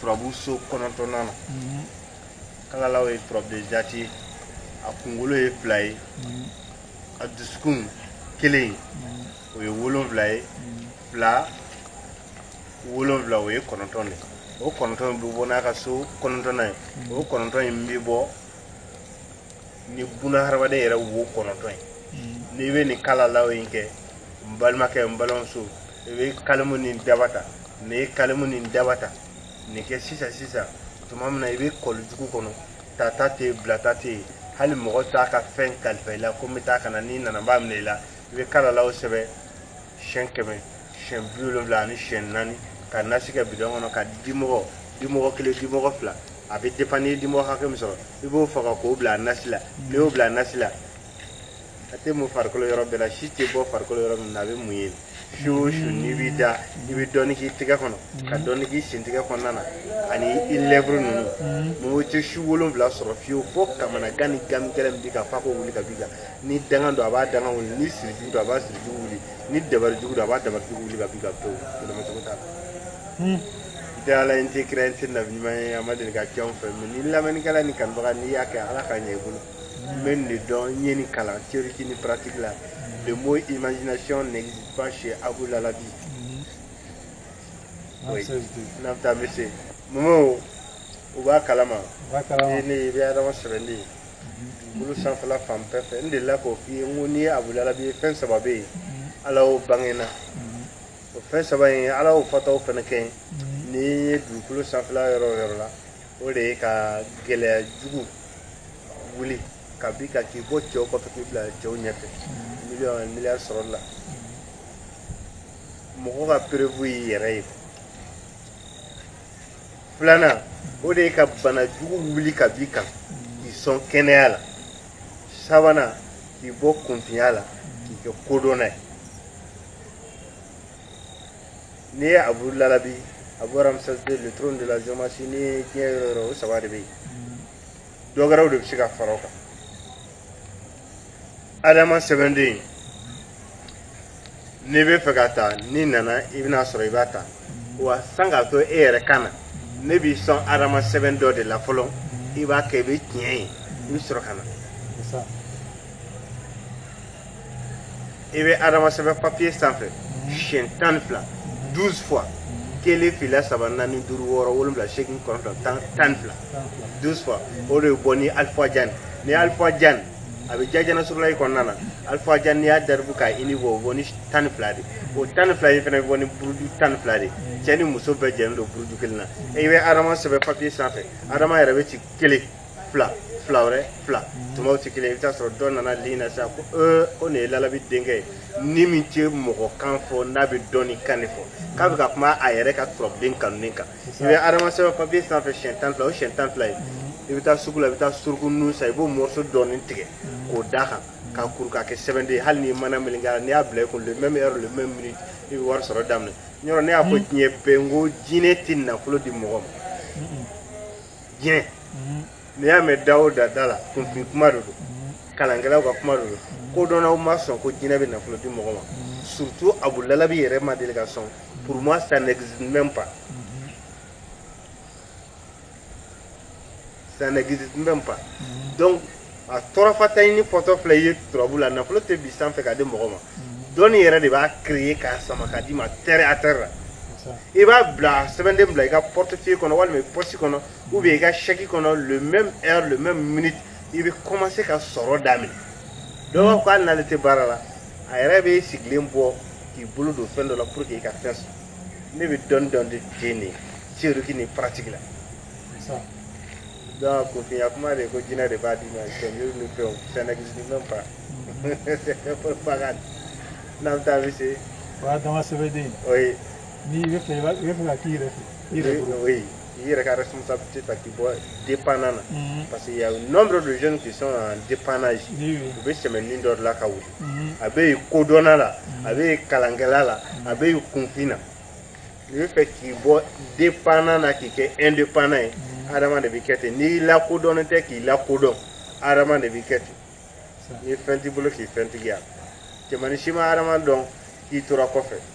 turabu so kɔnɔntɔnnan na mhm. kalalaw ye turabu de jati ye a kunkolo ye fila ye mhm. a dusukun kelen mhm. o ye wolonfila ye fila wolonfila o ye kɔnɔntɔn de o kɔnɔntɔn bɛ bɔ n'a ka so kɔnɔntɔnnan ye o kɔnɔntɔn in bɛ bɔ ni buna hadamaden yɛrɛ wo kɔnɔntɔn ye hmm. n'i bɛ nin kalalaw in kɛ n balimakɛ n balimamuso i bɛ kalimu ni daba ta n'i ye kalimu ni daba ta nin kɛ sisan sisan tuma min na i bɛ kɔli jugu kɔnɔ tata tɛ yen bilata tɛ yen hali mɔgɔ t'a ka fɛn kalifa i la ko n bɛ taa ka na n'i nana n b'a minɛ i la i bɛ kalalaw sɛbɛn siyɛn kɛmɛ siyɛn bi wolonwula ani siyɛn naani ka nasi kɛ bidɔn kɔnɔ ka dimɔgɔ dimɔgɔ kelen dimɔgɔ fila a bɛ dépend n'i ye dimɔgɔ hakɛ min sɔrɔ i b'o faga k'o bila a nasi la n'i y'o bila a nasi la a tɛ mun farikolo yɔrɔ bɛɛ la si tɛ bɔ farikolo yɔrɔ min na a bɛ mun yen su o su n'i b'i da i bɛ dɔɔnin k'i tɛgɛ kɔnɔ ka dɔɔnin k'i sentɛgɛ kɔnɔna na ani i lèvre ninnu mɔgɔ tɛ su wolonwula sɔrɔ fiyewu fo kamanagan ni gami gɛlɛn min b'i kan f'a k'o wuli ka b'i kan ni dangan don a b'a dangan wuli ni sirijugu don a b'a sirijugu wuli ni dabarijugu don a b'a dabarijugu wuli ka b'i kan pewu yɛlɛmacogo t'a la tɛ ala ye n tɛ kira ye n tɛ nabi ɲuman ye a ma deli ka kɛ anw fɛ mɛ ni lamɛnnikɛla ni kanubaga n'i y'a kɛ ala k'a ɲɛ i bolo n bɛ nin dɔn n ye nin kalan théorique ni pratique la le mot imagination n'existe pas chez Abu Lalabi oui n'an bɛ taa monsieur Momo u b'a kalama i ne i bɛ adama sɛbɛnden ye dugukolo sanfɛla fan bɛɛ fɛ n delila k'o f'i ye n ko n'i ye Abu Lalabi ye fɛn saba bɛ yen ala y'o bange na o fɛn saba in ala y'o fɔtaw fana kɛ yen n'i ye dugukolo sanfɛla yɔrɔ o yɔrɔ la o de ye ka gɛlɛya jugu wuli ka b'i kan k'i bɔ cɛw kɔfɛ k'i bila cɛw ɲɛfɛ miliyɔn miliyari sɔrɔli la mɔgɔ ka preuve y'i yɛrɛ ye filanan o de ye ka bana jugu wuli ka b'i kan k'i sɔn kɛnɛya la sabanan k'i bɔ kunfinya la k'i kɛ kodɔnna ye n'i ye abu lalabi abu ramsès deux le trône de la géomancie n'i ye diɲɛ yɔrɔ o yɔrɔ o saba de bɛ yen dɔ wɛrɛw de bɛ se ka fara o kan adama sɛbɛnden n'i bɛ fɛ k'a ta n'i nana i bɛna sɔrɔ i b'a ta wa sani k'a to e yɛrɛ ka na ne b'i sɔn adama sɛbɛn dɔ de la fɔlɔ i b'a kɛ i bɛ tiɲɛ ye i bɛ sɔrɔ ka na i bɛ adama sɛbɛn papiye sanfɛ siyɛn tan ni fila douze fois kelen fila saba naani duuru wɔɔrɔ wolonwula seegin kɔnɔntɔn tan tan ni fila douze fois o de bɛ bɔ ni alifa jan ni alifa jan a bɛ jajana surulayi kɔnɔna na alifa jan n'i y'a daribu k'a ini bɔ o bɔ ni tan ni fila de o tan ni fila in fana bɛ bɔ ni buruju tan ni fila de cɛ ni muso bɛɛ jɛlen don buruju kelen na i bɛ adama sɛbɛn papiye sanfɛ adama yɛrɛ bɛ ci kelen fila fila wɛrɛ fila tumaw tɛ kelen i bɛ taa sɔrɔ dɔ nana li na sisan ko ee ko nin ye Lalabi denkɛ ye ni min tɛ mɔgɔ kan fɔ n'a bɛ dɔnni kan de fɔ k'a bɛ ka kuma a yɛrɛ ka turabuden kanunen kan i bɛ adama sɛbɛn papiye sanfɛ siyɛn tan fila o siyɛn tan fila ye i bɛ taa sugu la i bɛ taa suruku nun san i b'o morceau dɔɔni tigɛ k'o d'a kan k'a kuru k'a kɛ sɛbɛnden ye hali ni mana meleke a la n'i y'a bila i kun le même heure le même minute i bɛ wari sɔrɔ daminɛ yɔrɔ ne y'a fɔ diɲɛ bɛɛ n ko jinɛ tɛ nafolo di mɔgɔ ma diɲɛ n'i y'a mɛn da o da da la kunfin kuma de don kalankɛlaw ka kuma de don kodɔnnaw ma sɔn ko jinɛ bɛ nafolo di mɔgɔ ma surtout Abu Lalabi yɛrɛ ma deli ka sɔn pour moi ça n'existe même pas ça n'existe même pas donc a tɔrɔfata ɲini fɔtɔ filɛ i ye turabu la nafolo tɛ bin sanfɛ ka di mɔgɔ ma dɔnni yɛrɛ de b'a créer k'a sama k'a d'i ma terre à terre la i b'a bila sɛbɛnden bila i ka portefeuille kɔnɔ walima i pɔsi kɔnɔ ou bien i ka chèque kɔnɔ le même heure le même minute i bɛ commencer ka sɔrɔ daminɛ dɔ b'a fɔ hali n'ale tɛ baara la a yɛrɛ b'i sigilen bɔ k'i bolo don fɛn dɔ la pour que i ka fɛn sɔrɔ ne bɛ dɔnni dɔn de ten de théorique ni pratique la Dɔn ko fiɲɛya kuma de ko jinɛinɛ de b'a di ma fɛn fɛn n'an taa bɛ se o dama sɛbɛnden o ye n'i bɛ fɛ i bɛ fɛ ka k'i yɛrɛ i yɛrɛ o ye i yɛrɛ ka sunsa se ka k'i bɔ de panna na parce que nɔ dɔ don jɔnni k'i sɔn de panna ye u bɛ sɛmɛ min dɔ la ka wuli a bɛ kodɔnna la a bɛ kalankɛla la a bɛ kunfin na i bɛ fɛ k'i bɔ dépendant na k'i kɛ indépendant ye adama de b'i kɛ ten n'i lakodɔnnen tɛ k'i lakodɔn adama de b'i kɛ ten n'i ye fɛn t'i bolo k'i fɛntigiya cɛmannin si ma adama dɔn k'i tora kɔfɛ